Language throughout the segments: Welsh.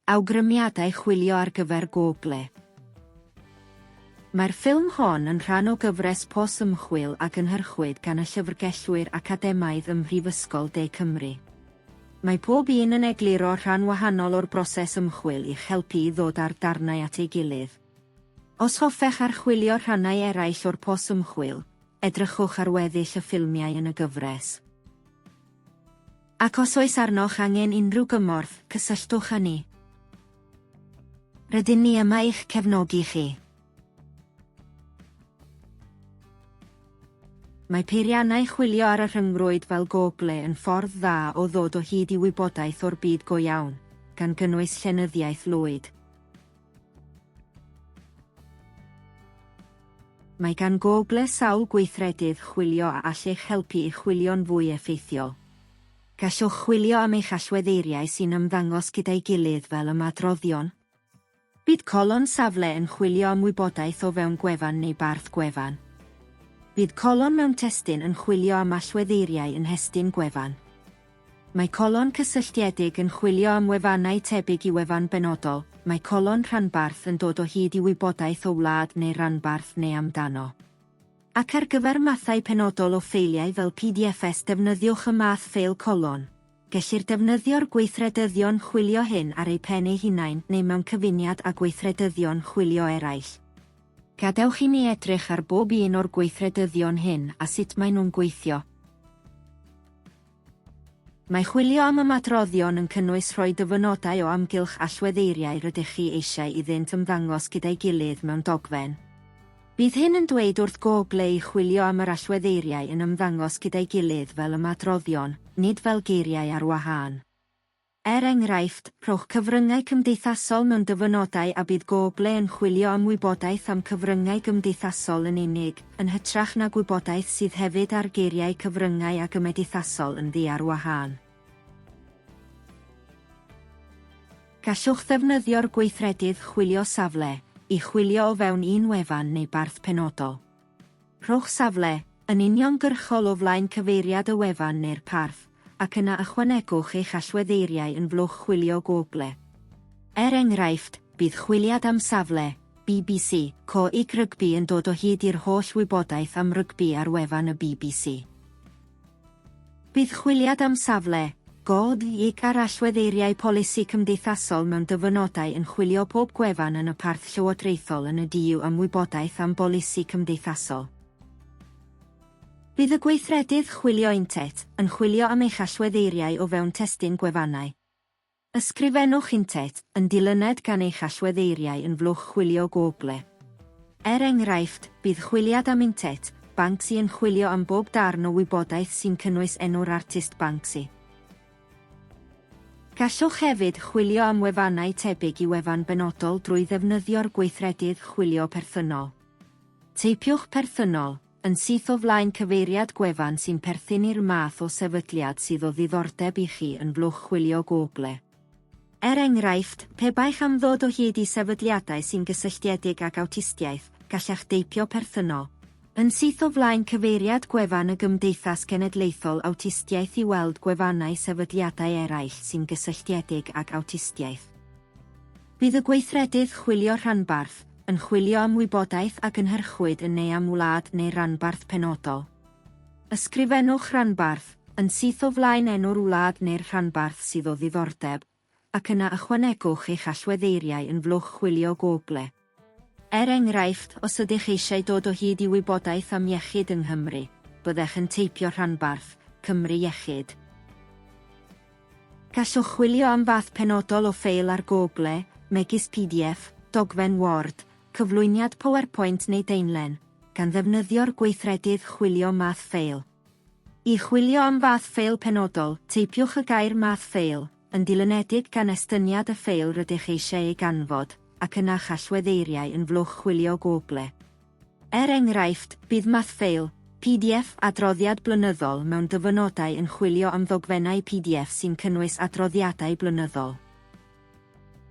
Awgrymiadau chwilio ar gyfer Google. Mae'r ffilm hon yn rhan o gyfres pos ymchwil a gynhyrchwyd gan y llyfrgellwyr academaidd ym Mhrifysgol De Cymru. Mae pob un yn egluro rhan wahanol o'r broses ymchwil i'ch helpu i ddod â'r darnau at ei gilydd. Os hoffech archwilio rhannau eraill o'r pos ymchwil, edrychwch ar weddill y ffilmiau yn y gyfres. Ac os oes arnoch angen unrhyw gymorth, cysylltwch â ni. Rydyn ni yma i'ch cefnogi chi. Mae peiriannau chwilio ar y rhyngrwyd fel Google yn ffordd dda o ddod o hyd i wybodaeth o'r byd go iawn, gan gynnwys llenyddiaeth lwyd. Mae gan Google sawl gweithredydd chwilio a all eich helpu i chwilio'n fwy effeithiol. Gallwch chwilio am eich allweddeiriau sy'n ymddangos gyda'i gilydd fel ymadroddion. Bydd colon safle yn chwilio am wybodaeth o fewn gwefan neu barth gwefan. Bydd colon mewn testun yn chwilio am allweddeiriau yn nhestun gwefan. Mae colon cysylltiedig yn chwilio am wefannau tebyg i wefan benodol, mae colon rhanbarth yn dod o hyd i wybodaeth o wlad neu ranbarth neu amdano. Ac ar gyfer mathau penodol o ffeiliau fel PDFs defnyddiwch y math ffeil colon. Gellir defnyddio'r gweithredyddion chwilio hyn ar eu pen eu hunain neu mewn cyfuniad â gweithredyddion chwilio eraill. Gadewch i ni edrych ar bob un o'r gweithredyddion hyn a sut maen nhw'n gweithio. Mae chwilio am ymadroddion yn cynnwys rhoi dyfynodau o amgylch allwedd eiriau rydych chi eisiau iddynt ymddangos gyda'i gilydd mewn dogfen. Bydd hyn yn dweud wrth Google i chwilio am yr allwedd eiriau yn ymddangos gyda'i gilydd fel ymadroddion, nid fel geiriau ar wahân. Er enghraifft, rhowch cyfryngau cymdeithasol mewn dyfynodau a bydd Google yn chwilio am wybodaeth am cyfryngau gymdeithasol yn unig, yn hytrach na gwybodaeth sydd hefyd ar geiriau cyfryngau a gymedithasol yn ddu ar wahân. Gallwch ddefnyddio'r gweithredydd Chwilio Safle i chwilio o fewn un wefan neu barth penodol. Rhowch safle, yn uniongyrchol o flaen cyfeiriad y wefan neu'r parth, ac yna ychwanegwch eich allweddeiriau yn Flwch Chwilio Google. Er enghraifft, bydd chwiliad am safle, bbc, Coed Rygbi yn dod o hyd i'r holl wybodaeth am rygbi ar wefan y bbc. Bydd chwiliad am safle, gôd gig ar allweddeiriau polisi cymdeithasol mewn dyfynodau yn chwilio pob gwefan yn y parth llywodraethol yn y du am wybodaeth am bolisi cymdeithasol. Bydd y gweithredydd Chwilio Intet yn chwilio am eich allweddeiriau o fewn testun gwefannau. Ysgrifennwch Intet yn dilyned gan eich allweddeiriau yn Fwlch Chwilio Google. Er enghraifft, bydd Chwiliad am Intet, Banksy yn chwilio am bob darn o wybodaeth sy'n cynnwys enw'r artist Banksy. Gallwch hefyd chwilio am wefannau tebyg i wefan benodol drwy ddefnyddio'r gweithredydd Chwilio Perthynol. Teipiwch Perthynol. Yn syth o flaen cyfeiriad gwefan sy'n perthyn i'r math o sefydliad sydd o ddiddordeb i chi yn blwch chwilio Google. Er enghraifft, pe baech am ddod o hyd i sefydliadau sy'n gysylltiedig ag awtistiaeth, gallech deipio perthynol. Yn syth o flaen cyfeiriad gwefan y Gymdeithas Genedlaethol Awtistiaeth i weld gwefannau sefydliadau eraill sy'n gysylltiedig ag awtistiaeth. Bydd y gweithredydd chwilio rhanbarth yn chwilio am wybodaeth a gynhyrchwyd yn neu am wlad neu ranbarth penodol. Ysgrifennwch ranbarth yn syth o flaen enw'r wlad neu'r rhanbarth sydd o ddiddordeb, ac yna ychwanegwch eich allweddeiriau yn flwch chwilio Google. Er enghraifft, os ydych eisiau dod o hyd i wybodaeth am iechyd yng Nghymru, byddech yn teipio rhanbarth, Cymru Iechyd. Gallwch chwilio am fath penodol o ffeil ar Google, megis pdf, dogfen Word, cyflwyniad PowerPoint neu daenlen, gan ddefnyddio'r gweithredydd Chwilio Math Ffeil. I chwilio am fath ffeil penodol, teipiwch y gair Math Ffeil, yn dilynedig gan estyniad y ffeil rydych eisiau ei ganfod, ac yna chall wedd'eiriau yn flwch chwilio Google. Er enghraifft, bydd mathffeil, pdf, adroddiad blynyddol mewn dyfynodau yn chwilio am ddogfennau pdf sy'n cynnwys adroddiadau blynyddol.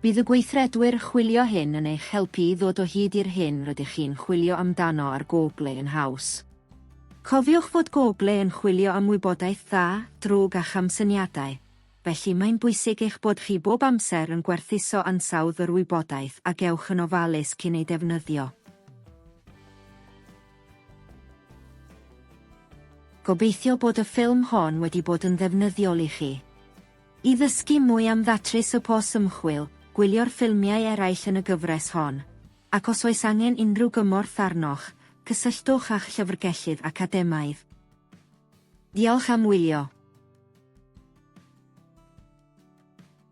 Bydd y gweithredwyr chwilio hyn yn eich helpu i ddod o hyd i'r hyn rydych chi'n chwilio amdano ar Google yn haws. Cofiwch fod Google yn chwilio am wybodaeth dda, drwg a chamsyniadau. felly mae'n bwysig eich bod chi bob amser yn gwerthuso ansawdd yr wybodaeth a gewch yn ofalus cyn ei defnyddio. Gobeithio bod y ffilm hon wedi bod yn ddefnyddiol i chi. I ddysgu mwy am ddatrys y pos ymchwil, gwylio'r ffilmiau eraill yn y gyfres hon. Ac os oes angen unrhyw gymorth arnoch, cysylltwch â'ch llyfrgellydd academaidd. Diolch am wylio.